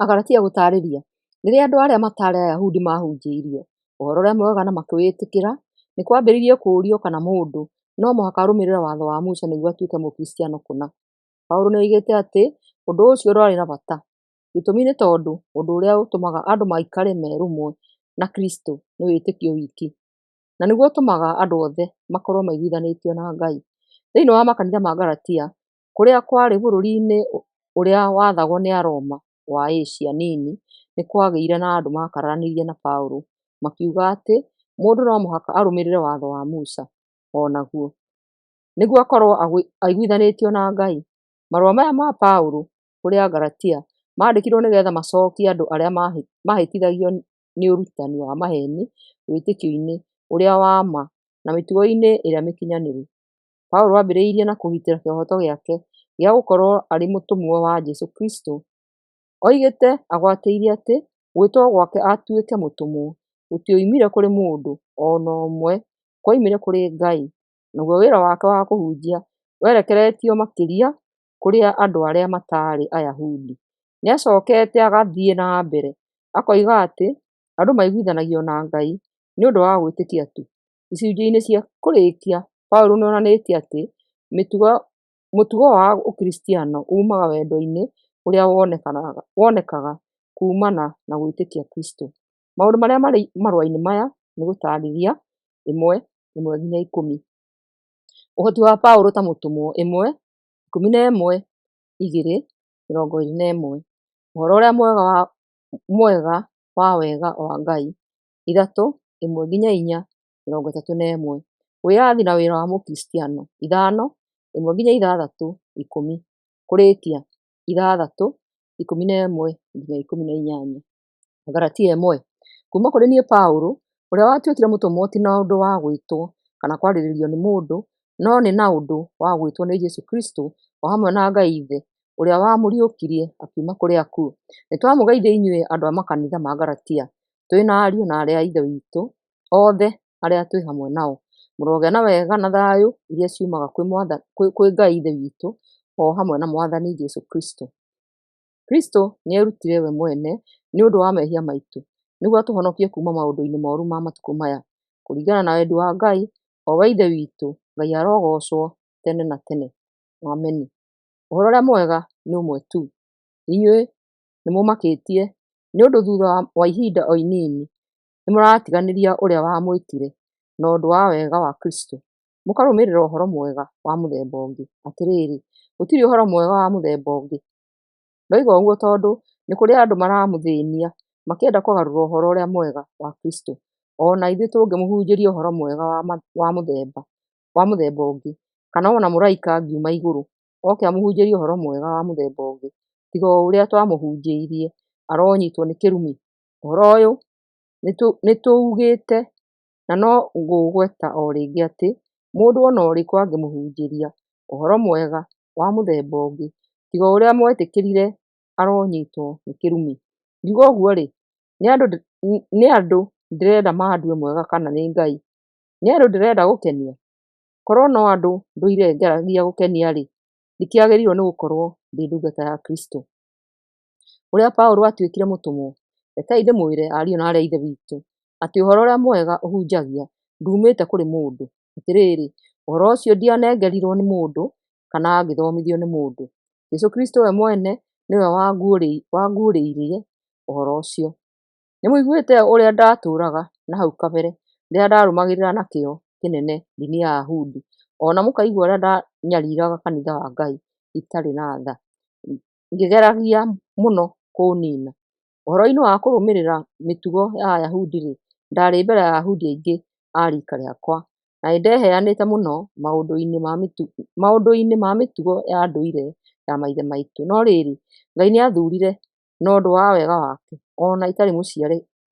Agalatia gũtaarĩria, Rĩrĩa andũ arĩa mataarĩ Ayahudi maahunjĩirio ũhoro ũrĩa mwega na makĩwĩtĩkĩra, nĩ kwambĩrĩirie kũũrio kana mũndũ no mũhaka arũmĩrĩre watho wa Musa nĩguo atuĩke Mũkristiano kũna. Paulo nĩ oigĩte atĩ ũndũ ũcio ndwarĩ na bata. Gĩtũmi nĩ tondũ ũndũ ũrĩa ũtũmaga andũ maikare merũmwe na Kristo nĩ wĩtĩkio wiki, na nĩguo ũtũmaga andũ othe makorũo maiguithanĩtio na Ngai. Thĩinĩ wa makanitha ma Galatia, kũrĩa kwarĩ bũrũri-inĩ ũrĩa wathagwo nĩ Aroma wa Asia Nini, nĩ kwagĩire na andũ maakararanirie na Paulo, makiuga atĩ, Mũndũ no mũhaka arũmĩrĩre watho wa Musa o naguo, nĩguo akorũo aiguithanĩtio na Ngai. Marũa maya ma Paulo kũrĩ Agalatia maandĩkirũo nĩ getha macokie andũ arĩa maahĩtithagio nĩ ũrutani wa maheeni wĩtĩkio-inĩ ũrĩa wa ma na mĩtugo-inĩ ĩrĩa mĩkinyanĩru. Paulo aambĩrĩirie na kũgitĩra kĩhooto gĩake gĩa gũkorũo arĩ mũtũmwo wa Jesu Kristo, oigĩte agwatĩirie atĩ gwĩtwo gwake atuĩke mũtũmwo gũtioimire kũrĩ mũndũ o na ũmwe, kwoimire kũrĩ Ngai. Naguo wĩra wake wa kũhunjia werekeretio makĩria kũrĩ andũ arĩa mataarĩ Ayahudi. Nĩ acokete agathiĩ na mbere akoiga atĩ andũ maiguithanagia na Ngai nĩ ũndũ wa gwĩtĩkia tu, Icunjĩ-inĩ cia kũrĩkia, Paulo nĩ onanĩtie atĩ mũtugo wa Ũkristiano uumaga wendo-inĩ ũrĩa wonekaga kuumana na gwĩtĩkia Kristo. Maũndũ marĩa marĩ marũa-inĩ maya nĩ gũtaarĩria, 1:1-10, Ũhoti wa Paulo ta mũtũmwo, 1:11, 2:21, Ũhoro ũrĩa mwega wa wega wa Ngai, ithatũ, ĩmwe nginya inya, mĩrongo ĩtatũ na ĩmwe. Wĩyathi na wĩra wa Mũkristiano, ithano, ĩmwe nginya ithathatũ, ikũmi. Kũrĩĩkia, ithathatũ, ikũmi na ĩmwe nginya ikũmi na inyanya. Agalatia ĩmwe. Kuuma kũrĩ niĩ Paũlũ, ũrĩa watuĩkire mũtũmwo ti na ũndũ wa gwĩtwo kana kwarĩrĩrio nĩ mũndũ, no nĩ na ũndũ wa gwĩtwo nĩ Jesu Kristo, o hamwe na Ngai Ithe, ũrĩa wamũriũkirie akiuma kũrĩ akuũ. Nĩtwamũgeithia inyuĩ andũ a makanitha ma Galatia. twĩ na ariũ na arĩa a Ithe witũ othe arĩa twĩ hamwe nao. Mũrogĩa na wega na thayũ iria ciumaga kwĩ Mwathani, kwĩ Ngai Ithe witũ o hamwe na Mwathani Jesu Kristo. Kristo nĩ erutire we mwene nĩ ũndũ wa mehia maitũ nĩguo atũhonokie kuma maũndũ-inĩ moru ma matukũ maya. Kũringana na wendi wa Ngai, o we Ithe witũ, Ngai arogocwo tene na tene. Ameni. Ũhoro ũrĩa mwega nĩ ũmwe tu. Inyuĩ nĩ mũmakĩtie Nĩ ũndũ thutha wa ihinda o inini nĩ mũratiganĩria ũrĩa wamwĩtire na ũndũ wa wega wa Kristo, mũkarũmĩrĩra ũhoro mwega wa mũthemba ũngĩ. Atĩrĩrĩ, gũtirĩ ũhoro mwega wa mũthemba ũngĩ. Ndoiga ũguo tondũ nĩ kũrĩ andũ maramũthĩnia makĩenda kũgarũra ũhoro ũrĩa mwega wa Kristo. Ona ithuĩ tũngĩmũhunjĩria ũhoro mwega wa mũthemba ũngĩ, kana ona mũraika angiuma igũrũ oke amũhunjĩrie ũhoro mwega wa mũthemba ũngĩ tiga o ũrĩa twamũhunjĩirie, aronyitwo nĩ kĩrumi. Ũhoro ũyũ nĩtũugĩte na no ngũũgweta o rĩngĩ atĩ, mũndũ o na ũrĩkũ angĩmũhunjĩria ũhoro mwega wa mũthemba ũngĩ tiga o ũrĩa mwetĩkĩrire, aronyitwo nĩ kĩrumi. Ngiuga ũguo-rĩ, nĩ andũ ndĩrenda mandue mwega kana nĩ Ngai? Nĩ andũ ndĩrenda gũkenia? Korwo no andũ ndũire njaragia gũkenia-rĩ, ndikĩagĩrĩirwo nĩ gũkorwo ndĩ ndungata ya Kristũ. Ũrĩa Paũlũ atuĩkire mũtũmwo, Rekei ndĩmwĩre ariũ na aarĩ a Ithe witũ, atĩ ũhoro ũrĩa mwega ũhunjagia nduumĩte kũrĩ mũndũ. Atĩrĩrĩ, ũhoro ũcio ndianengerirwo nĩ mũndũ, kana ngĩthomithio nĩ mũndũ. Jesũ Kristũ we mwene nĩwe wanguũrĩirie ũhoro ũcio. Nĩmũiguĩte ũrĩa ndatũraga na hau kabere, rĩrĩa ndarũmagĩrĩra na kĩyo kĩnene ndini ya Ayahudi, ona mũkaigua ũrĩa ndanyariraga kanitha wa Ngai itarĩ na tha, ngĩgeragia mũno kũũnina. Ũhoro-inĩ wa kũrũmĩrĩra mĩtugo ya Ayahudi-rĩ, ndarĩ mbere ya Ayahudi aingĩ a rika rĩakwa, na nĩndeheanĩte mũno maũndũ-inĩ ma mĩtugo, maũndũ-inĩ ma mĩtugo ya ndũire ya maithe maitũ. No rĩrĩ, Ngai nĩathurire na ũndũ wa wega wake, o na itarĩ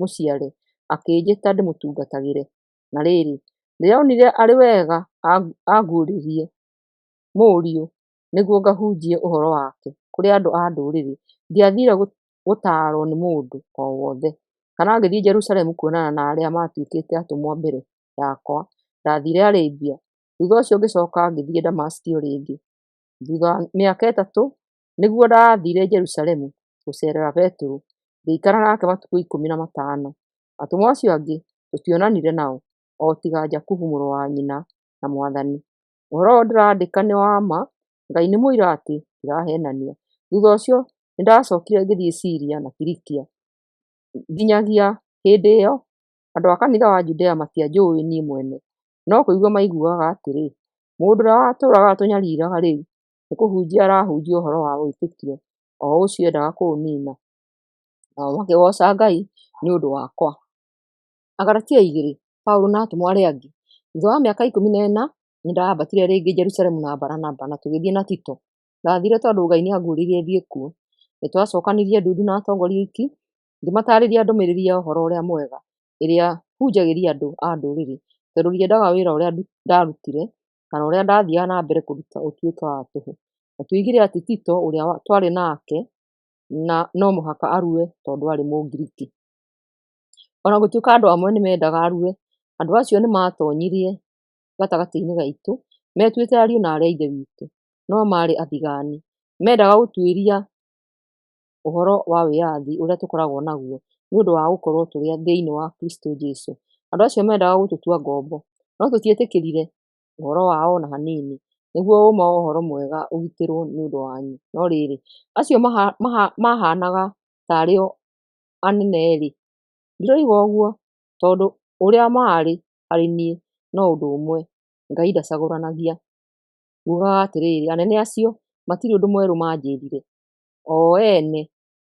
mũciare, akĩnjĩta ndĩmũtungatagĩre. Na rĩrĩ, ndĩronire arĩ wega anguũrĩrie Mũriũ nĩguo ngahunjie ũhoro wake kũrĩ andũ a Ndũrĩrĩ. Ndiathiire gũtaarwo nĩ mũndũ o wothe, kana ngĩthiĩ Jerusalemu kuonana na arĩa maatuĩkĩte atũmwo mbere yakwa. Ndathiire Arabia, thutha ũcio ngĩcoka ngĩthiĩ Damaski o rĩngĩ. Thutha wa mĩaka ĩtatũ, Nĩguo ndaathiire Jerusalemu gũceerera Petero, ngĩikara nake matukũ ikũmi na matano. Atũmwo acio angĩ tũtionanire nao, o tiga Jakubu mũrũ wa nyina na Mwathani. Ũhoro ũyũ ndĩrandĩka nĩ wa ma, Ngai nĩ mũira atĩ ndiraheenania. Thutha ũcio nĩ ndaacokire ngĩthiĩ Siria na Kilikia. Nginyagia hĩndĩ ĩyo, andũ a kanitha wa Judea matianjũũĩ niĩ mwene, no kũigua maiguaga atĩrĩ, 'Mũndũ ũrĩa watũũraga atũnyariiraga rĩu nĩ kũhunjia arahunjia ũhoro wa wĩtĩkio o ũcio endaga kũũnina, nao makĩgooca Ngai nĩ ũndũ wakwa. Agalatia igĩrĩ, Paũlũ na atũmwo arĩa angĩ. Thutha wa mĩaka ikũmi na ĩna, nĩ ndambatire rĩngĩ Jerusalemu na Baranaba na tũgĩthiĩ na Tito. Ndathiire tondũ Ngai nĩ anguũrĩirie thiĩ kuo. Nĩ twacokanirie ndundu na atongoria oiki, ngĩmataarĩria ndũmĩrĩri ya ũhoro ũrĩa mwega ĩrĩa hunjagĩria andũ a ndũrĩrĩ, tondũ ndiendaga wĩra ũrĩa ndarutire kana ũrĩa ndathiaga na mbere kũruta ũtuĩke wa tũhũ. Na tuigire atĩ Tito ũrĩa twarĩ nake na no mũhaka arue tondũ arĩ Mũngiriki. Ona gũtuĩka andũ amwe nĩ mendaga arue, andũ acio nĩ matonyirie gatagatĩ-inĩ gaitũ metuĩte ariũ na aarĩ a Ithe witũ, no maarĩ athigaani. Mendaga gũtuĩria ũhoro wa wĩyathi ũrĩa tũkoragwo naguo nĩ ũndũ wa gũkorwo tũrĩ thĩinĩ wa Kristo Jesu. Andũ acio mendaga gũtũtua ngombo, no tũtietĩkĩrire ũhoro wao ona hanini, nĩguo ũma wa ũhoro mwega ũgitĩrwo nĩ ũndũ wanyu. No rĩrĩ, acio mahaanaga tarĩ o anene-rĩ, ndiroiga ũguo, tondũ ũrĩa maarĩ harĩ niĩ no ũndũ ũmwe, Ngai ndacagũranagia. Ngugaga atĩrĩrĩ, anene acio matirĩ ũndũ mwerũ manjĩrire, o ene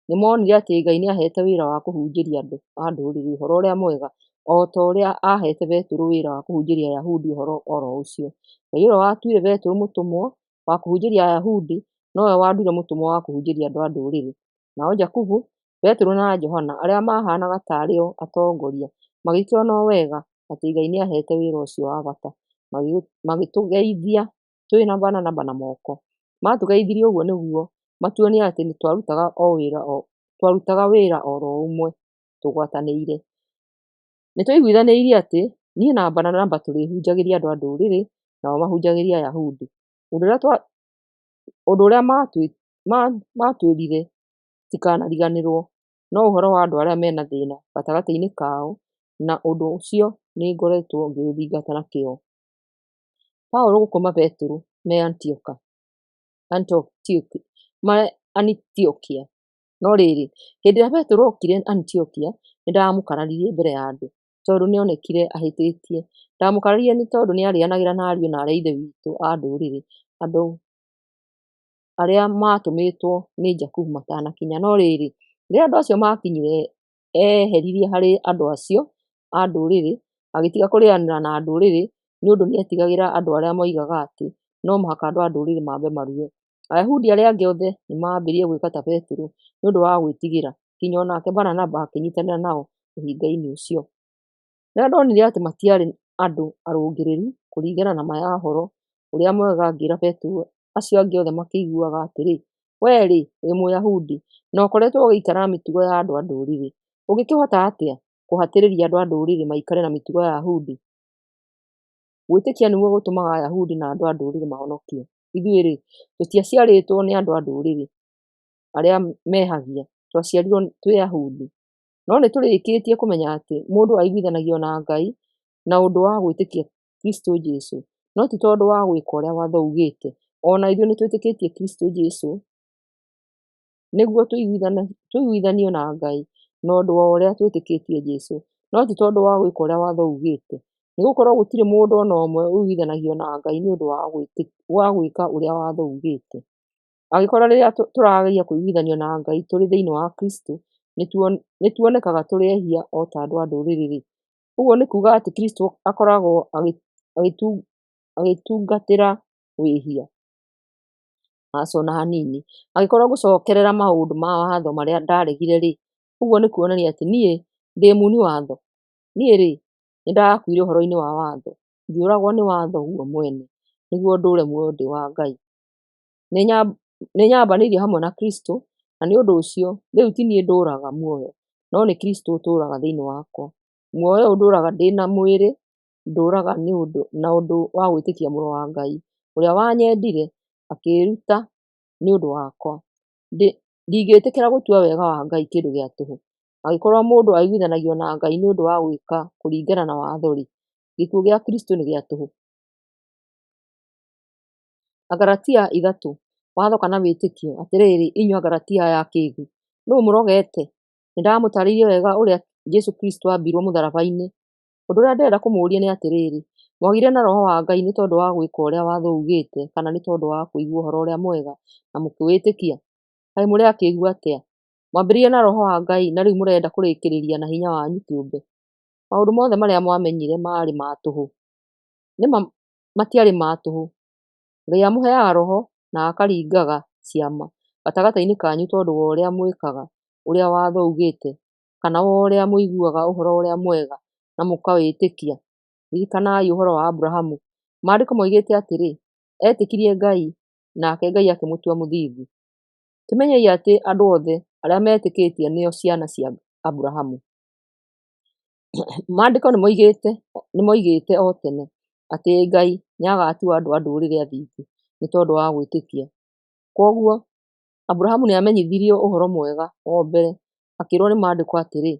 nĩ monire atĩ Ngai nĩ aheete wĩra wa kũhunjĩria andũ a ndũrĩrĩ ũhoro ũrĩa mwega, o ta ũrĩa aheete Petero wĩra wa kũhunjĩria Ayahudi ũhoro o ro ũcio. Ngai ũrĩa watuire Petero mũtũmwo wa kũhunjĩria Ayahudi nowe wanduire mũtũmwo wa kũhunjĩria andũ a ndũrĩrĩ. Nao Jakubu, Petero, na Johana, arĩa maahaanaga ta arĩ o atongoria, magĩkĩona o wega atĩ Ngai nĩ aheete wĩra ũcio wa bata, magĩtũgeithia tũrĩ na bana na bana moko. Matũgeithirie ũguo nĩguo matuonie atĩ nĩ twarutaga o wĩra o twarutaga wĩra o ro ũmwe tũgwatanĩire. Nĩ twaiguithanĩirie atĩ niĩ na Baranaba tũrĩhunjagĩria andũ a ndũrĩrĩ nao mahunjagĩria Ayahudi. Ũndũ ũrĩa twa ũndũ ũrĩa matwĩrire ndikanariganĩrwo no ũhoro wa andũ arĩa mena thĩna gatagatĩ-inĩ kao na ũndũ ũcio nĩ ngoretwo ngĩũthingata na kĩo. Paulo gũkoma Petero me Antioka, Antioki, me Antiokia. No rĩrĩ, hĩndĩ ĩrĩa Petero okire Antiokia, nĩ ndamũkararirie mbere ya andũ, tondũ nĩ onekire ahĩtĩtie. Ndamũkararirie nĩ tondũ nĩ arĩanagĩra na ariũ na aarĩ a Ithe witũ a ndũrĩrĩ, andũ arĩa maatũmĩtwo nĩ Jakubu matanakinya. No rĩrĩ, rĩrĩa andũ acio maakinyire, eeheririe harĩ andũ acio, a ndũrĩrĩ, agĩtiga kũrĩanĩra na ndũrĩrĩ nĩ ũndũ nĩ etigagĩra andũ arĩa moigaga atĩ no mũhaka andũ a ndũrĩrĩ mambe marue. Ayahudi arĩa angĩ othe nĩ maambĩrĩirie gwĩka ta Petero nĩ ũndũ wa gwĩtigĩra, nginya o nake Baranaba akĩnyitanĩra nao ũhinga-inĩ ũcio. Rĩrĩa ndonire atĩ matiarĩ andũ arũngĩrĩru kũringana na ma ya ũhoro ũrĩa mwega, ngĩra Petero, acio angĩ othe makĩiguaga atĩrĩ, Wee-rĩ, wĩ Mũyahudi, na ũkoretwo ũgĩikara na mĩtugo ya andũ a ndũrĩrĩ, ũngĩkĩhota atĩa kũhatĩrĩria andũ a ndũrĩrĩ maikare na mĩtugo ya Ayahudi? Gwĩtĩkia nĩguo gũtũmaga Ayahudi na andũ a ndũrĩrĩ mahonokie. Ithuĩ-rĩ, tũtiaciarĩtwo nĩ andũ a ndũrĩrĩ arĩa mehagia, twaciarirwo twĩ Ayahudi. No nĩ tũrĩkĩtie kũmenya atĩ mũndũ aiguithanagio na Ngai na ũndũ wa gwĩtĩkia Kristo Jesu, no ti tondũ wa gwĩka ũrĩa watho ugĩte. O na ithuĩ nĩ twĩtĩkĩtie Kristo Jesu. nĩguo tũiguithanio na Ngai na ũndũ wa ũrĩa twĩtĩkĩtie Jesũ, no ti tondũ wa gwĩka ũrĩa watho uugĩte. Nĩgũkorwo gũtirĩ mũndũ o na ũmwe ũiguithanagio na Ngai nĩ ũndũ wa gwĩka ũrĩa watho uugĩte. Angĩkorwo rĩrĩa tũrageria kũiguithanio na Ngai tũrĩ thĩiniĩ wa Kristũ, nĩ tuonekaga tũrĩ ehia o ta andũ a ndũrĩrĩ rĩ, ũguo nĩ kuuga atĩ Kristũ akoragwo agĩtungatĩra wĩhia. aca ona hanini, angĩkorwo gũcokerera maũndũ ma watho marĩa ndaregire rĩ, ũguo nĩ kuonania atĩ niĩ ndĩ muni watho? Niĩ rĩ, nĩ ndarakuire ũhoro-inĩ wa watho? Ngĩũragwo nĩ watho guo mwene, nĩguo ndũũre muoyo ndĩ wa Ngai? Nĩ nĩ nyambanĩirio hamwe na Kristũ, na nĩ ũndũ ũcio, rĩu ti niĩ ndũũraga muoyo, no nĩ Kristũ ũtũũraga thĩiniĩ wakwa. Muoyo ũyũ ndũũraga ndĩ na mwĩrĩ, ndũraga nĩ ũndũ na ũndũ wa gwĩtĩkia mũrũ wa Ngai, ũrĩa wanyendire akĩĩruta nĩ ũndũ wakwa. Ndingĩtĩkĩra gũtua wega wa Ngai kĩndũ gĩa tũhũ. Angĩkorwo mũndũ aiguithanagio na Ngai nĩ ũndũ wa gwĩka kũringana na watho-rĩ, gĩkuũ gĩa Kristũ nĩ gĩa tũhũ. Agalatia ithatũ, watho kana wĩtĩkio. Atĩrĩrĩ inyuĩ Agalatia aya akĩĩgu, nũũ mũrogete? Nĩndamũtaarĩirie wega ũrĩa Jesũ Kristũ aambirwo mũtharaba-inĩ, Ũndũ ũrĩa ndĩrenda kũmũria nĩ atĩrĩrĩ, mwagĩire na roho wa Ngai nĩ tondũ wa gwĩka ũrĩa watho ugĩte kana nĩ tondũ wa kũigua ũhoro ũrĩa mwega na mũkĩwĩtĩkia? Kaĩ mũrĩ akĩĩgu atĩa? Mwambĩrĩire na roho wa Ngai na rĩu mũrenda kũrĩkĩrĩria na hinya wanyu kĩũmbe? Maũndũ mothe marĩa mwamenyire maarĩ ma tũhũ. Nĩ ma matiarĩ ma tũhũ. Ngai amũheaga roho na akaringaga ciama gatagatĩ-inĩ kanyu tondũ wa ũrĩa mwĩkaga ũrĩa watho ugĩte kana wa ũrĩa mũiguaga ũhoro ũrĩa mwega na mũkawĩtĩkia. Ririkanai ũhoro wa Abrahamu. Maandĩko moigĩte atĩrĩ, etĩkirie Ngai nake Ngai akĩmũtua mũthingu. Kĩmenyei atĩ andũ othe arĩa metĩkĩtie nĩo ciana cia Abrahamu. Maandĩko nĩ moigĩte nĩ moigĩte o tene atĩ Ngai nĩ agatua andũ a ndũrĩrĩ athingu nĩ tondũ wa gwĩtĩkia. Koguo Aburahamu nĩ aamenyithirio ũhoro mwega o mbere, akĩĩrũo nĩ Maandĩko atĩrĩ,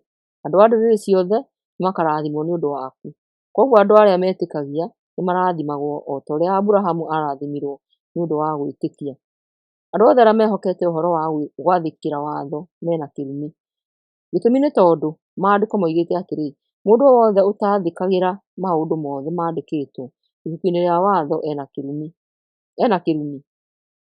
Andũ a ndũrĩrĩ ciothe nĩ makaarathimwo nĩ ũndũ waku. Kwoguo andũ arĩa metĩkagia nĩ marathimagwo o ta ũrĩa Aburahamu aarathimirũo nĩ ũndũ wa gwĩtĩkia. Andũ othe arĩa mehokete ũhoro wa gwathĩkĩra watho mena kĩrumi. Gĩtũmi nĩ tondũ Maandĩko moigĩte atĩrĩ, Mũndũ o wothe ũtaathĩkagĩra maũndũ mothe mandĩkĩtwo ibuku-inĩ rĩa watho ena kĩrumi.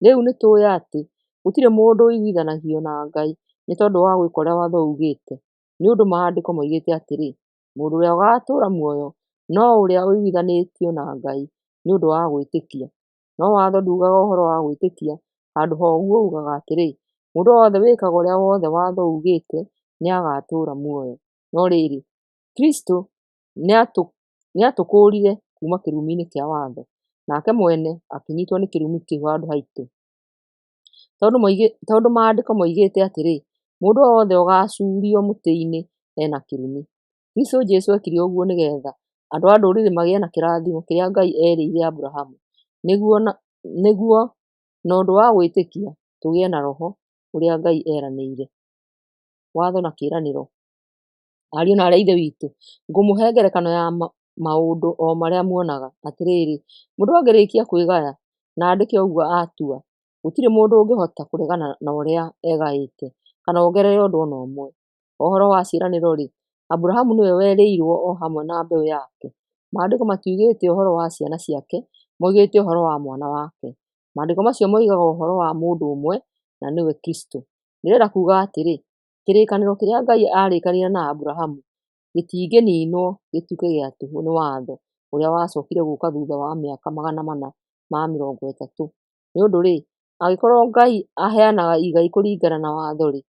Rĩu nĩ tũĩ atĩ gũtirĩ mũndũ ũiguithanagio na Ngai nĩ tondũ wa gwĩka ũrĩa watho uugĩte, nĩ ũndũ Maandĩko moigĩte atĩrĩ, 'Mũndũ ũrĩa ũgaatũũra muoyo no ũrĩa ũiguithanĩtio na Ngai nĩ ũndũ wa gwĩtĩkia. No watho nduugaga ũhoro wa gwĩtĩkia, handũ ha ũguo uugaga atĩrĩ, 'Mũndũ wothe wĩkaga ũrĩa wothe watho uugĩte nĩ agaatũũra muoyo. No rĩrĩ, Kristo nĩ aatũũrire muoyo. Nĩatũkũũrire kuuma kĩrumi-inĩ kĩa watho, nake mwene akĩnyitwo nĩ kĩrumi kĩu handũ haitũ. Tondũ moigĩ, tondũ maandĩko moigĩte atĩrĩ, mũndũ o wothe ũgacuurio mũtĩ-inĩ ena kĩrumi. Kristũ Jesũ ekire ũguo nĩgetha andũ a ndũrĩrĩ magĩe na kĩrathimo kĩrĩa Ngai erĩire Abrahamu, nĩguo na, nĩguo na ũndũ wa gwĩtĩkia tũgĩe na roho ũrĩa Ngai eranĩire. Watho na kĩĩranĩro. Ariũ na aarĩ a Ithe witũ, ngũmũhe ngerekano ya maũndũ o marĩa muonaga. Atĩrĩrĩ, mũndũ angĩrĩkia kwĩgaya na andĩke ũguo atua, gũtirĩ mũndũ ũngĩhota kũregana na ũrĩa egaĩte, kana ongerere ũndũ o na ũmwe. Ũhoro wa ciĩranĩro-rĩ, Aburahamu nĩwe werĩirwo o hamwe na mbeũ yake. Maandĩko matiugĩte ũhoro wa ciana ciake, moigĩte ũhoro wa mwana wake. Maandĩko macio moigaga ũhoro wa mũndũ ũmwe, na nĩwe Kristũ. Ndĩrenda kuuga atĩrĩ, Kĩrĩkanĩro kĩrĩa Ngai aarĩkanĩire na Abrahamu gĩtingĩniinwo gĩtuĩke gĩa tũhũ nĩ watho ũrĩa wacokire gũka thutha wa mĩaka magana mana ma mĩrongo ĩtatũ. Nĩ ũndũ-rĩ, angĩkorũo Ngai aheanaga igai kũringana na watho-rĩ,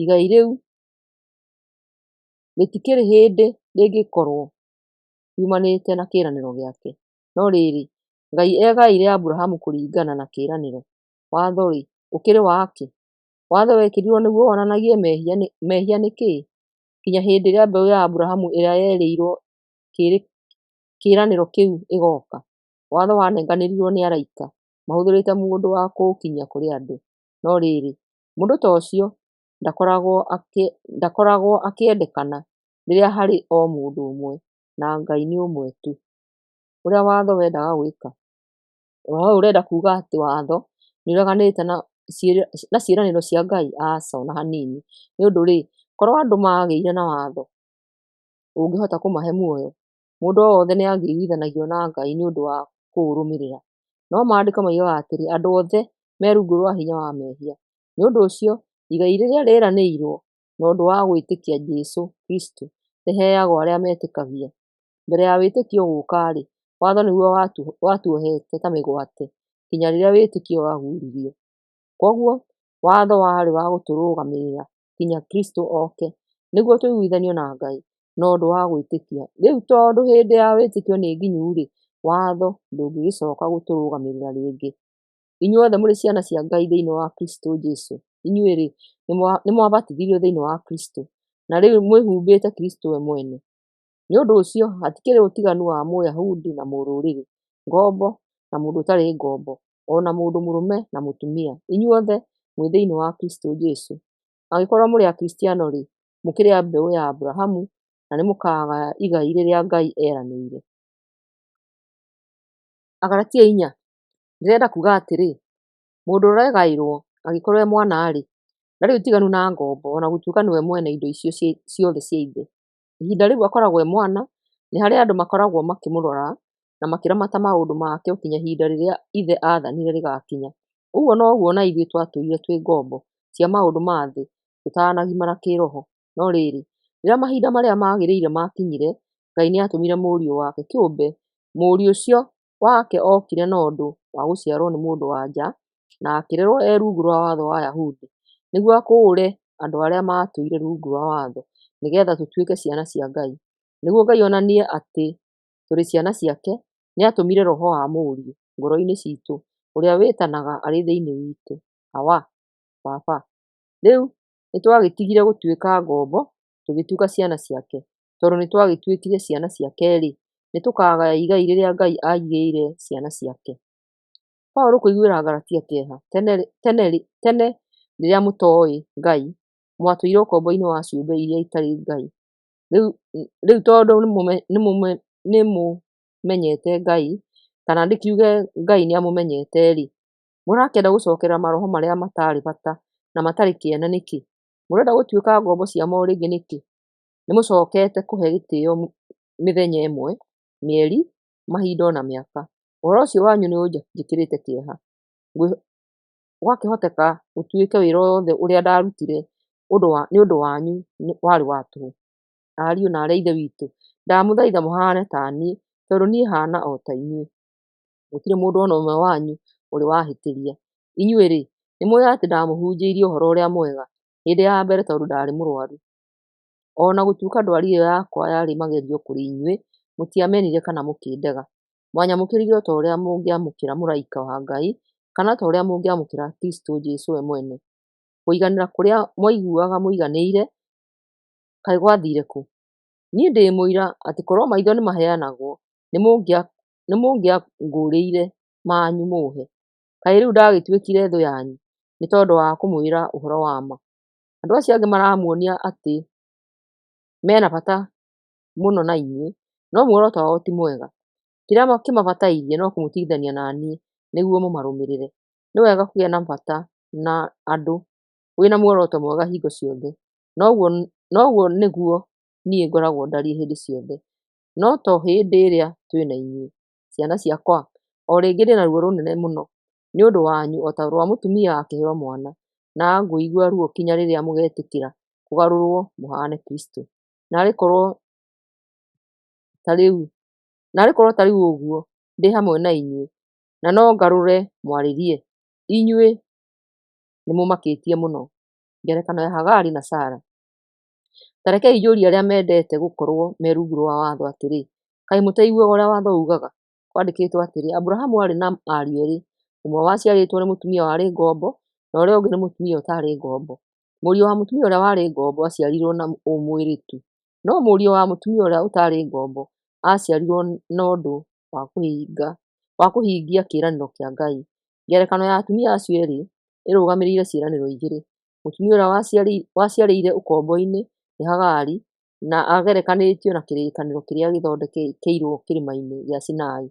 igai rĩu rĩtikĩrĩ hĩndĩ rĩngĩkorũo riumanĩte na kĩĩranĩro gĩake. No rĩrĩ, Ngai eegaĩire Abrahamu kũringana na kĩĩranĩro. Watho-rĩ, ũkĩrĩ wa kĩ? Watho wekĩrirũo nĩguo wonanagie mehia nĩ kĩĩ? Nginya hĩndĩ ĩrĩa mbeũ ya Abrahamu ĩrĩa yerĩirũo kĩĩranĩro kĩu ĩgooka. Watho wanenganĩrirũo nĩ araika mahũthĩrĩte mũndũ wa kũũkinyia kũrĩ andũ. No rĩrĩ, mũndũ ta ũcio ndakoragwo akĩendekana rĩrĩa harĩ o mũndũ ũmwe, na Ngai nĩ ũmwe tu. Ũrĩa watho wendaga gwĩka. Oro hau ũrenda kuga atĩ watho nĩ ũreganĩte na na ciĩranĩro cia Ngai? Aca ona hanini. Nĩ ũndũ rĩ, korwo andũ magĩire na watho ũngĩhota kũmahe muoyo? Mũndũ o wothe nĩ angĩiguithanagio na Ngai nĩ ũndũ wa kũũrũmĩrĩra. No maandĩko moigaga atĩrĩ, andũ othe me rungu rwa hinya wa mehia. Nĩ ũndũ ũcio, igai rĩrĩa rĩranĩirwo na ũndũ wa gwĩtĩkia Jesũ Kristo rĩheagwo arĩa metĩkagia. Mbere ya wĩtĩkio gũka-rĩ, watho nĩguo watuohete ta mĩgwate nginya rĩrĩa wĩtĩkio wahunjirio. Koguo watho warĩ wa gũtũrũgamĩrĩra nginya Kristo oke nĩguo tũiguithanio na Ngai na ũndũ wa gwĩtĩkia. Rĩu tondũ hĩndĩ ya wĩtĩkio nĩ nginyu-rĩ, watho ndũngĩgĩcoka gũtũrũgamĩrĩra rĩngĩ. Inyuothe mũrĩ ciana cia Ngai thĩinĩ wa Kristo Jesu. Inyuĩ-rĩ, nĩ mwabatithirio thĩinĩ wa Kristo, na rĩu mwĩhumbĩte Kristo we mwene. Nĩ ũndũ ũcio hatikĩrĩ ũtiganu wa Mũyahudi na Mũrũrĩrĩ, ngombo na mũndũ ũtarĩ ngombo, o na mũndũ mũrũme na mũtumia, inyuothe mwĩ thĩinĩ wa Kristo Jesu. Angĩkorwo mũrĩ Akristiano-rĩ, mũkĩrĩ a mbeũ ya Abrahamu, na nĩ mũkaagaya igai rĩrĩa Ngai eeranĩire. Agalatia inya. Ndĩrenda kuuga atĩrĩ, mũndũ ũregaĩrwo angĩkorwo e mwana-rĩ, ndarĩ ũtiganu na ngombo ona gũtuĩka nĩwe mwene indo icio ciothe cia ithe. Ihinda rĩu akoragwo e mwana, nĩ harĩa andũ makoragwo makĩmũrora na makĩramata maũndũ make o kinya ihinda rĩrĩa ithe athanire rĩgakinya. Ũguo noguo ona ithuĩ twatũire twĩ ngombo cia maũndũ ma thĩ tũtanagimara kĩroho. No rĩrĩ, rĩrĩa mahinda marĩa magĩrĩire makinyire, Ngai nĩatũmire mũriũ wake kĩũmbe, mũriũ ũcio wake okire na ũndũ wa gũciarwo nĩ mũndũ wa nja, na akĩrerwo e rungu rwa watho wa Ayahudi, nĩguo akũũre andũ arĩa maatũire rungu rwa watho, nĩgeetha tũtuĩke ciana cia Ngai. Nĩguo Ngai onanie atĩ tũrĩ ciana ciake, nĩ aatũmire Roho wa Mũriũ ngoro-inĩ ciitũ, ũrĩa wĩtanaga arĩ thĩinĩ witũ, Awa, Baba. Rĩu nĩ twagĩtigire gũtuĩka ngombo tũgĩtuĩka ciana ciake. Tondũ nĩ twagĩtuĩkire ciana ciake-rĩ, nĩ tũkagaya igai rĩrĩa Ngai aigĩire ciana ciake. Paũlũ kũiguĩra Agalatia kĩeha tene rĩrĩa mũtoĩ Ngai, mwatũire ũkombo-inĩ wa ciũmbe iria itarĩ Ngai. Rĩu tondũ nĩ mũmenyete Ngai, kana nĩ kiuge Ngai nĩ amũmenyete-rĩ, mũrakĩenda gũcokerera maroho marĩa matarĩ bata na matarĩ kĩene nĩkĩ? Mũrenda gũtuĩka ngombo cia mortgage nĩkĩ? Nĩ mũcokete kũhe gĩtĩo mĩthenya ĩmwe, mĩeri, mahinda ona mĩaka. Ũhoro ũcio wanyu nĩ ũnjĩkĩrĩte kĩeha. Gwakĩhoteka ũtuĩke wĩra o wothe ũrĩa ndarutire ũndũ wa, nĩ ũndũ wanyu warĩ wa tũhũ. Ariũ na aarĩ a Ithe witũ, ndamũthaitha mũhane taniĩ tondũ niĩ hana o ta inyuĩ. gũtirĩ mũndũ ona ũmwe wanyu ũrĩ wahĩtĩria. Inyuĩ-rĩ, nĩmũũĩ atĩ ndamũhunjĩirie ũhoro ũrĩa mwega hĩndĩ ya mbere tondũ ndarĩ mũrwaru. O na gũtuĩka ndwari ĩyo yakwa yarĩ magerio kũrĩ inyuĩ, mũtiamenire kana mũkĩndega. Mwanyamũkĩrire o ta ũrĩa mũngĩamũkĩra mũraika wa Ngai, kana ta ũrĩa mũngĩamũkĩra Kristũ Jesũ we mwene. Kũiganĩra kũrĩa mwaiguaga mũiganĩire, kaĩ gwathiire kũ? Niĩ ndĩ mũira atĩ korwo maitho nĩmaheanagwo, nĩmũngĩakoretwo nĩmũngĩangũũrĩire manyu mũhe. Kaĩ rĩu ndagĩtuĩkire thũ yanyu nĩ tondũ wa kũmwĩra ũhoro wa ma? Andũ acio angĩ maramuonia atĩ mena bata mũno na inyuĩ, no muoroto wao ti mwega. Kĩrĩa kĩmabatairie no kũmũtigithania na niĩ nĩguo mũmarũmĩrĩre. Nĩ wega kũgĩa na bata na andũ wĩna muoroto mwega hingo ciothe, na ũguo nĩguo niĩ ngoragwo ndariĩ hĩndĩ ciothe. no to hĩndĩ ĩrĩa twĩ na inyuĩ. Ciana ciakwa, o rĩngĩ ndĩ na ruo rũnene mũno nĩ ũndũ wanyu o ta rwa mũtumia akĩheo mwana, na ngũigua ruo kinya rĩrĩa mũgetĩkĩra kũgarũrũo mũhaane Kristũ. Na arĩ korũo ta rĩu ũguo, ndĩ hamwe na inyuĩ, na no ngarũre mwarĩrie, inyuĩ nĩ mũmakĩtie mũno. Ngerekano ya Hagari na Sara. Ta rekei njũrie arĩa mendete gũkorũo me rungu rwa watho atĩrĩ, Kaĩ mũtaiguaga ũrĩa watho uugaga? Kwandĩkĩtwo atĩrĩ, 'Aburahamu aarĩ na ariũ erĩ, ũmwe waciarĩtwo nĩ mũtumia warĩ ngombo, na ũrĩa ũngĩ nĩ mũtumia ũtaarĩ ngombo. Mũriũ wa mũtumia ũrĩa warĩ ngombo aaciarirũo na ũmwĩrĩ tu, no mũriũ wa mũtumia ũrĩa ũtaarĩ ngombo aaciarirũo na ũndũ wa kũhingia kĩĩranĩro kĩa Ngai. Ngerekano ya atumia acio erĩ ĩrũgamĩrĩire ciĩranĩro igĩrĩ. Mũtumia ũrĩa waciarĩire ũkombo-inĩ nĩ Hagari, na agerekanĩtio na kĩrĩkanĩro kĩrĩa gĩthondekeirwo kĩrĩma-inĩ gĩa Sinai.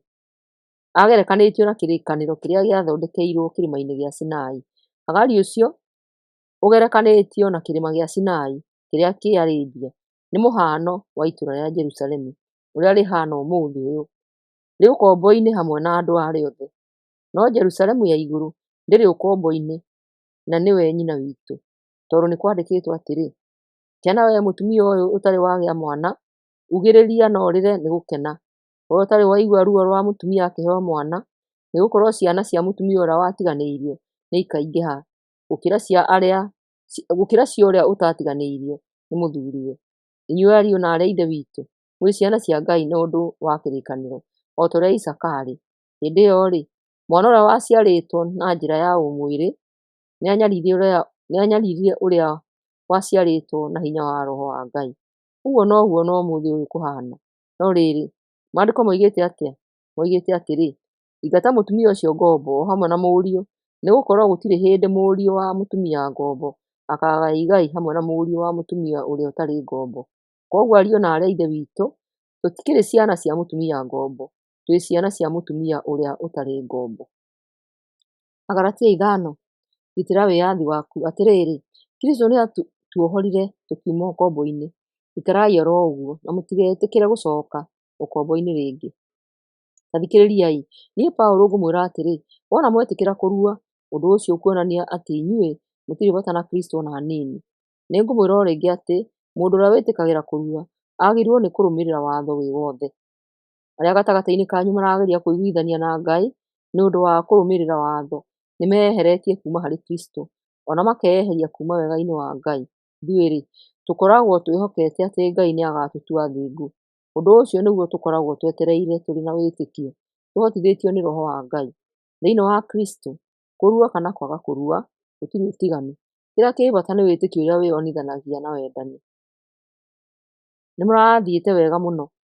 Agerekanĩtio na kĩrĩkanĩro kĩrĩa gĩathondekeirwo kĩrĩma-inĩ gĩa Sinai. Hagari ũcio ũgerekanĩtio na kĩrĩma gĩa Sinai kĩrĩa kĩ Arabia, nĩ mũhano wa itũra rĩa Jerusalemu ũrĩa rĩhana ũmũthĩ ũyũ. Rĩ ũkombo-inĩ hamwe na andũ arĩa othe, no Jerusalemu ya igũrũ ndĩrĩ ũkombo-inĩ. na nĩwe nyina witũ, tondũ nĩ kwandĩkĩtwo atĩrĩ, Ciana wee mũtumia ũyũ ũtarĩ wagĩa mwana, ugĩrĩria na ũrĩre nĩ gũkena, wee ũtarĩ waigua ruo rwa mũtumia akĩheo mwana, nĩ gũkorwo ciana cia mũtumia ũrĩa watiganĩirio nĩ ikaingĩha gũkĩra cia arĩa, gũkĩra cia ũrĩa ũtatiganĩirio nĩ mũthuriwe. Inyuĩ ariũ na aarĩ a Ithe witũ, mũrĩ ciana cia Ngai na ũndũ wa kĩrĩkanĩro, o ta ũrĩa Isaaka aarĩ. Hĩndĩ ĩyo-rĩ, Mwana ũrĩa waciarĩtwo na njĩra ya ũmwĩrĩ nĩanyaririe ũrĩa waciarĩtwo na hinya wa roho wa Ngai. Ũguo noguo ona ũmũthĩ ũyũ kũhana. No rĩrĩ, maandĩko moigĩte atĩa? Moigĩte atĩrĩ, ingata mũtumia ũcio ngombo o hamwe na mũriũ, nĩgũkorwo gũtirĩ hĩndĩ mũriũ wa mũtumia ngombo akaagaya igai hamwe na mũriũ wa mũtumia ũrĩa ũtarĩ ngombo. Koguo ariũ na aarĩ a Ithe witũ, tũtikĩrĩ ciana cia mũtumia ngombo, twĩ ciana cia mũtumia ũrĩa ũtarĩ ngombo. Agalatia ithano, gitĩra wĩyathi waku. Atĩrĩrĩ, Kristũ nĩatuohorire tũkiuma ũkombo-inĩ, ikarai oro ũguo, na mũtigetĩkĩre gũcoka ũkombo-inĩ rĩngĩ. Ta thikĩrĩriai, niĩ Paũlũ ngũmwĩra atĩrĩ, wona mwetĩkĩra kũrua, ũndũ ũcio ũkuonania atĩ inyuĩ mũtirĩ bata na Kristũ ona hanini. Nĩngũmwĩra o rĩngĩ atĩ mũndũ ũrĩa wĩtĩkagĩra kũrua agĩrĩirwo nĩ kũrũmĩrĩra watho wĩ wothe. arĩa gatagatĩ-inĩ kanyu marageria kũiguithania na Ngai nĩ ũndũ wa kũrũmĩrĩra watho, nĩ meyeheretie kuuma harĩ Kristo, o na makeyeheria kuuma wega-inĩ wa Ngai, ithuĩ-rĩ, tũkoragwo twĩhokete atĩ Ngai nĩ agaatũtua athingu. Ũndũ ũcio nĩguo tũkoragwo twetereire tũrĩ na wĩtĩkio, tũhotithĩtio nĩ roho wa Ngai. Thĩinĩ wa Kristo, kũrua kana kwaga kũrua, gũtirĩ ũtiganu. Kĩrĩa kĩrĩ bata nĩ wĩtĩkio ũrĩa wĩyonithanagia na wendani. Nĩ mũrathiĩte wega mũno.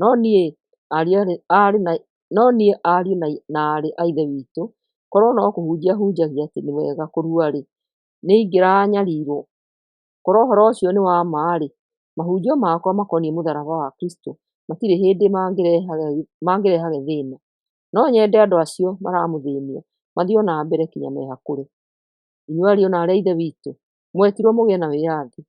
No niĩ, ariũ na aarĩ a Ithe witũ, korũo no kũhunjia hunjagia atĩ nĩ wega kũrua-rĩ, nĩ ingĩranyarirũo. Korũo ũhoro ũcio nĩ wa ma-rĩ, mahunjio makwa makoniĩ mũtharaba wa Kristo matirĩ hĩndĩ mangĩrehaga thĩna. No nyende andũ acio maramũthĩnia mathiĩ o na mbere nginya mehakũre. Inyuĩ ariũ na aarĩ a Ithe witũ, mwetirũo mũgĩe na wĩyathi.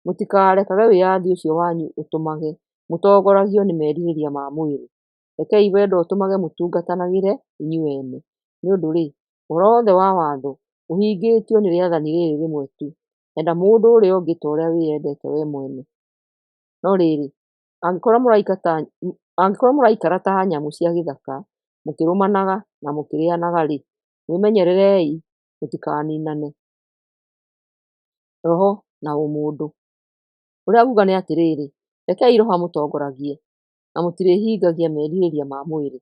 Mũtikarekage wĩyathi ũcio wanyu ũtũmage mũtongoragio nĩ merirĩria ma mwĩrĩ. Rekei wendo ũtũmage mũtungatanagĩre inyuĩ ene. Nĩ ũndũ-rĩ, ũhoro wothe wa Watho ũhingĩtio nĩ rĩathani rĩrĩ rĩmwe tu, Enda mũndũ ũrĩa ũngĩ ta ũrĩa wĩyendete wee mwene. No rĩrĩ, angĩkorwo mũraikara ta nyamũ cia gĩthaka, mũkĩrũmanaga na mũkĩrĩĩanaga-rĩ, mwĩmenyererei mũtikaninane. roho na ũmũndũ. Ũrĩa nguga nĩ atĩrĩrĩ, rekei roho amũtongoragie na mũtirĩhingagia merirĩria ma mwĩrĩ.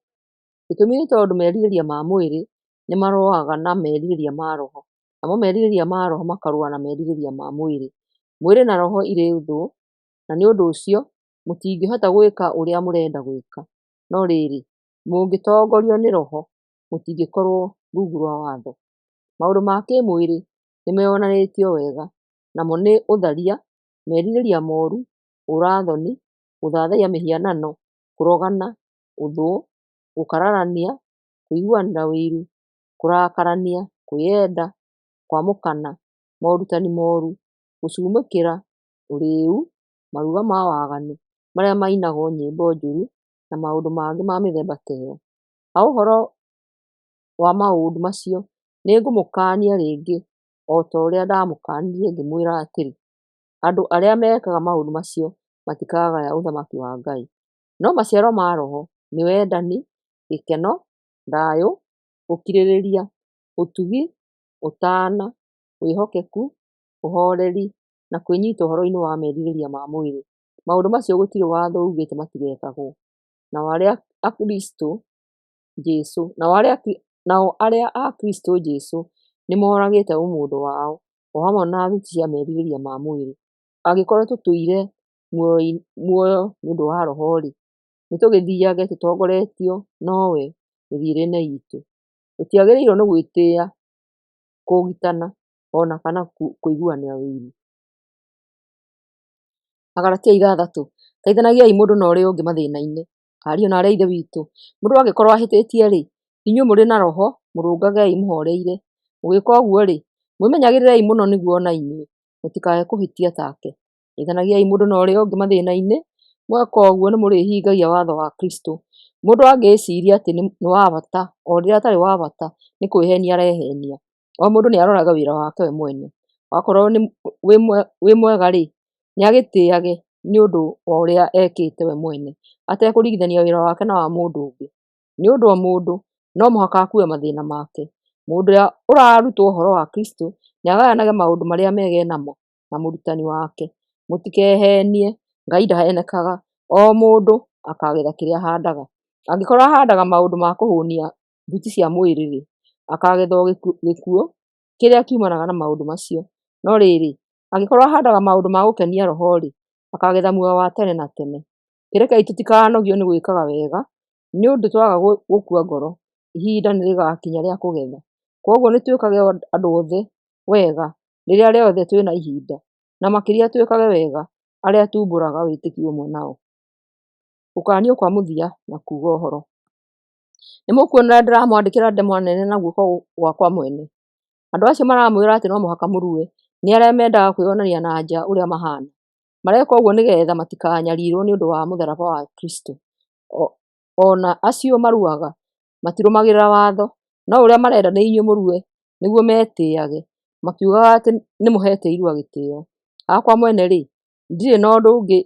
Gĩtũmi nĩ tondũ merirĩria ma mwĩrĩ nĩ marũaga na merirĩria ma roho, namo merirĩria ma roho makarũa na merirĩria ma mwĩrĩ. Mwĩrĩ na roho irĩ thũ, na nĩ ũndũ ũcio mũtingĩhota gwĩka ũrĩa mũrenda gwĩka. No rĩrĩ, mũngĩtongorio nĩ roho, mũtingĩkorwo rungu rwa watho. Maũndũ ma kĩmwĩrĩ nĩmeyonanĩtio wega, namo nĩ ũtharia, merirĩria moru, ũũra-thoni, gũthathaiya mĩhianano, kũrogana, ũthũ, gũkararania, kũiguanĩra ũiru, kũrakarania, kwĩyenda, kwamũkana, morutani moru, gũcumũkĩra, ũrĩĩu, maruga ma waganu, marĩa mainagwo nyĩmbo njũru, na maũndũ mangĩ ma mĩthemba ta ĩyo. Ha ũhoro wa maũndũ macio, nĩngũmũkaania rĩngĩ o ta ũrĩa ndamũkaanirie ngĩmwĩra atĩrĩ, 'Andũ arĩa mekaga maũndũ macio matikagaya Ũthamaki wa Ngai. ' No maciaro ma Roho nĩ wendani, gĩkeno, thayũ, ũkirĩrĩria, ũtugi, ũtaana, wĩhokeku, ũhooreri, na kwĩnyita ũhoro-inĩ wa merirĩria ma mwĩrĩ. Maũndũ macio gũtirĩ watho uugĩte matigekagwo. Nao arĩa Akristo Jesu, nao arĩa a Kristo Jesu nĩmoragĩte ũmũndũ wao, o hamwe na thuti cia merirĩria ma mwĩrĩ, angĩkorwo tũtũire muoyo nĩũndũ wa roho-rĩ, nĩtũgĩthiage tũtongoretio nowe mĩthiĩre-inĩ itũ, tũtiagĩrĩirwo nĩ gwĩtĩa, kũgitana, ona kana kũiguanĩra ũiru. Agalatia ithathatũ, Teithanagiai mũndũ na ũrĩa ũngĩ mathĩna-inĩ, Ariũ na aarĩ a Ithe witũ, mũndũ angĩkorwo ahĩtĩtie-rĩ, inyuĩ mũrĩ na roho, mũrũngagei mũhoreire. Mũgĩka ũguo-rĩ, mwĩmenyagĩrĩrei mũno nĩguo o na inyuĩ mũtikage kũhĩtia take. Teithanagiai mũndũ na ũrĩa ũngĩ mathĩna-inĩ, mweka ũguo nĩ mũrĩhingagia watho wa Kristũ. Mũndũ angĩĩciria atĩ nĩ wa bata o rĩrĩa atarĩ wa bata, nĩ kwĩheenia arehenia. O mũndũ nĩ aroraga wĩra wake we mwene, wakorwo wĩ mwega rĩ, nĩ agĩtĩage nĩ ũndũ wa ũrĩa ekĩte we mwene, atekũringithania wĩra wake na wa mũndũ ũngĩ, nĩ ũndũ o mũndũ no mũhaka akue mathĩna make. Mũndũ ũrĩa ũrarutwo ũhoro wa Kristũ, nĩ agananaga maũndũ marĩa mega e namo na mũrutani wake. Mũtikehenie, Ngai ndahenekaga, o mũndũ akagetha kĩrĩa ahandaga. Angĩkorwo ahandaga maũndũ ma kũhũnia thuti cia mwĩrĩ-rĩ, akagethwo gĩkuũ kĩrĩa kiumanaga na maũndũ macio. No rĩrĩ, angĩkorwo ahandaga maũndũ ma gũkenia roho-rĩ, akagetha muoyo wa tene na tene. Rekei tũtikanogio nĩ gwĩkaga wega, nĩ ũndũ twaga gũkua ngoro, ihinda nĩ rĩgakinya rĩa kũgetha. Kwoguo nĩ twĩkage andũ othe wega rĩrĩa rĩothe twĩna ihinda, na makĩria twĩkage wega arĩa tuumbũraga wĩtĩkio ũmwe nao. Gũkaanio kwa mũthia na kuuga ũhoro. Nĩmũkuona ũrĩa ndĩramwandĩkĩra ndemwa nene na guoko gwakwa mwene? Andũ acio maramwĩra atĩ no mũhaka mũrue, nĩ arĩa mendaga kwĩyonania na anja ũrĩa mahana. Mareka ũguo nĩgetha matikanyarirwo nĩ ũndũ wa mũtharaba wa Kristũ. O na acio maruaga matirũmagĩrĩra watho, no ũrĩa marenda nĩ inyuĩ mũrue nĩguo metĩage, makiugaga atĩ nĩmũhete irua gĩtĩo. Hakwa mwene-rĩ, Ndirĩ na ũndũ ũngĩ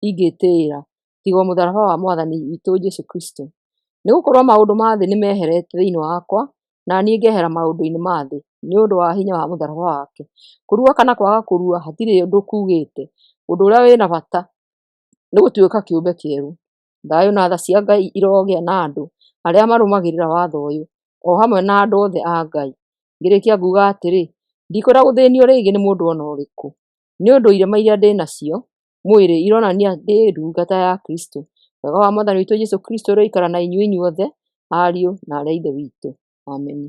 ingĩtĩĩra tiga o mũtharaba wa Mwathani witũ Jesũ Kristũ. Nĩ gũkorwo maũndũ ma thĩ nĩ meherete thĩinĩ wakwa, na niĩ ngehera maũndũ-inĩ ma thĩ, nĩ ũndũ wa hinya wa mũtharaba wake. Kũrua kana kwaga kũrua hatirĩ ũndũ kuugĩte, ũndũ ũrĩa wĩna bata nĩ gũtuĩka kĩũmbe kĩerũ. Thayũ na tha cia Ngai irogĩa na andũ arĩa marũmagĩrĩra watho ũyũ, o hamwe na andũ othe a Ngai. Ngĩrĩkia nguuga atĩrĩ, ndikwenda gũthĩnio rĩngĩ nĩ mũndũ o na ũrĩkũ. Nĩ ũndũ irema iria ndĩ nacio mwĩrĩ ironania ndĩ ndungata ya Kristo. Wega wa Mwathani witũ Jesu Kristo ũroikara na inyuĩ inyuothe, ariũ na aarĩ a Ithe witũ. Ameni.